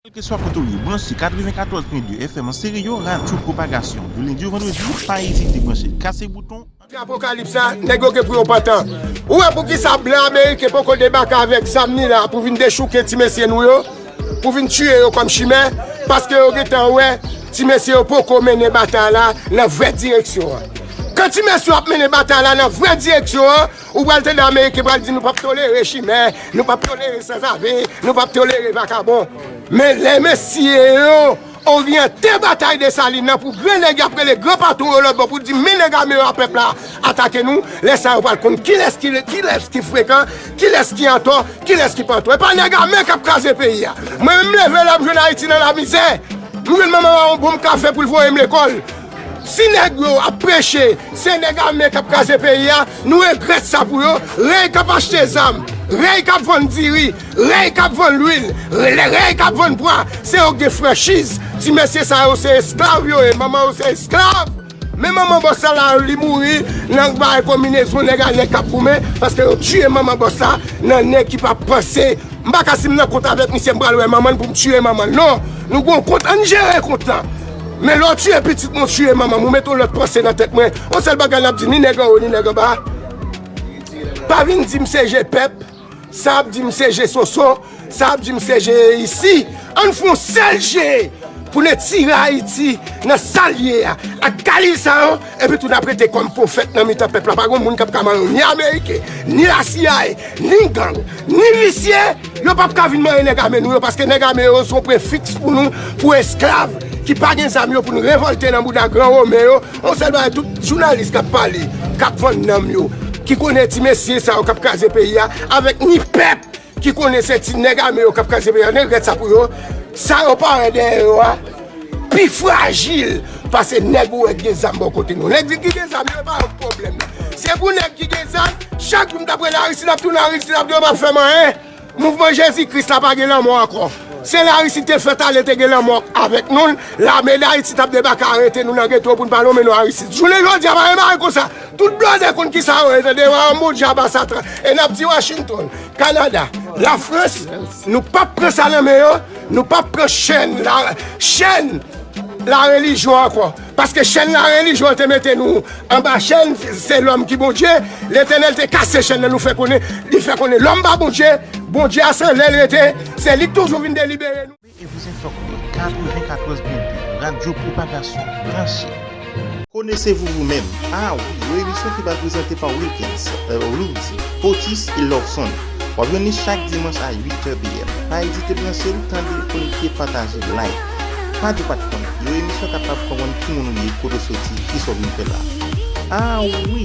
Kèlkeswa kote w ye, branche 94.2 FM an Stereo, radyo pwopagasyon. Du lendi au vendredi, pa ezite branche Kase Bouton an. Nan apokalips la, nèg yo gen pou yo pantan. Ou wè poukisa blan ameriken poko debake avèk zam li la pou vin dechouke ti mesye nou yo, pou vin tiye yo kòm chimè, paske yo gentan wè ti mesye yo poko mennen batay la nan vrè direksyon an. Kan ti mesye yo ap mennen batay la nan vrè direksyon an, Ou pral tande ameriken pral di nou pap tolere chimè, nou pap tolere sanzave, nou pap tolere vakabon. Men lè mesye yo oryante batay Desalin nan pou gran nèg y ap rele gran patwon yo lòtbò pou di men nèg ame yo a pèp la atake nou, lè sa yo pral konn kilès ki frekan, kilès ki antò, kilès ki pa antò. E pa nèg ame k ap kraze peyi a. Mwen menm m leve lè m jwenn Ayiti nan lamizè, m jwenn manman m a yon bonm kafe pou l voye m lekòl. Si nèg yo ap preche se nèg ame kap kraze peyi a, nou regrèt sa pou yo, rèy kap achte zam, rèy kap vann diri, rèy kap vann lwil, rèy kap vann pwa, se yo ki gen franchiz, ti mesye sa yo se esklav yo ye, manman yo se esklav, men manman bòs la la li mouri nan bagay konminezon nèg a nèg kap goumen, paske yo tiye manman bòs la nan nèg ki pa panse, m paka si m nan kont avèk misye m pral wè manman l pou m tiye manman l non, nou gon kont ann jere kont lan. Men lè w tiye pitit mwen w tiye manman m ou mete yon lòt panse nan tèt mwen yon sèl bagay n ap di ni nèg anwo ni nèg anba pa vin di m se je pèp sa ap di m se je sonson sa ap di m se je isi an n fè yon sèl je pou n etire ayiti nan sa l ye a ak kalil sa yo Epi tou n ap rete kòm pwofèt nan mitan pèp la. Pa gen moun k ap ka mare yo, ni Ameriken, ni lasiyaye, ni gang, ni visye, yo p ap ka vin mare nèg ame nou yo, paske nèg ame yo se yon prefiks pou nou, pou esklav ki pa gen zam yo pou n revòlte nan bouda gran Women yo. Yon sèl bagay tout jounalis k ap pale, k ap vann nanm yo, ki konnen ti mesye sa yo k ap kraze peyi a avèk ni pèp. Ki konnen se ti nèg ame yo kap kraze peyi a nègrèt sa pou yo sa yo pare dèyè yo a pi frajil pase nèg ou wè ki gen zam bò kote nou nèg ki gen zam yo pa yon pwoblèm se pou nèg ki gen zam chak jou m ta prela aristid ap tounen aristid ap tounen yo pap fè m anyen mouvman jezi kris la pa gen lanmò ankò se la aristid te fèt ale te gen lanmò avèk nou lame dayiti tap debake arete nou nan geto pou n pa lonmen non aristid jounen jodi a pa gen bagay konsa Tout blòdè konn kisa yo ye tande wa anmou djaba satan e nap di Washington, Canada, la France nou pap pran sa nan men yo nou pap pran chèn la chèn la relijyon ankò paske chèn la relijyon te mete nou anba chèn se lòm ki Bondye letènèl te kase chèn nan nou fè konnen li fè konnen lòm pa Bondye Bondye a se lèl rete se li k toujou vin delibere nou. Koute e dezenfokte 94 pwente Radyo Pwopagasyon Branche! Connaissez-vous vous-même? Ah oui! Yon emisyon ki pral prezante pa Wilkens, Erlings, Otis e Lorson. Wap jwenn li chak dimanch a 8 tè PM. Pa ezite branche l, tande, konekte, pataje, like. Pa di w pat konn. Yon emisyon kapab fè w konn ki moun ou ye, kote w soti, kisa w vin fè la. Ah oui!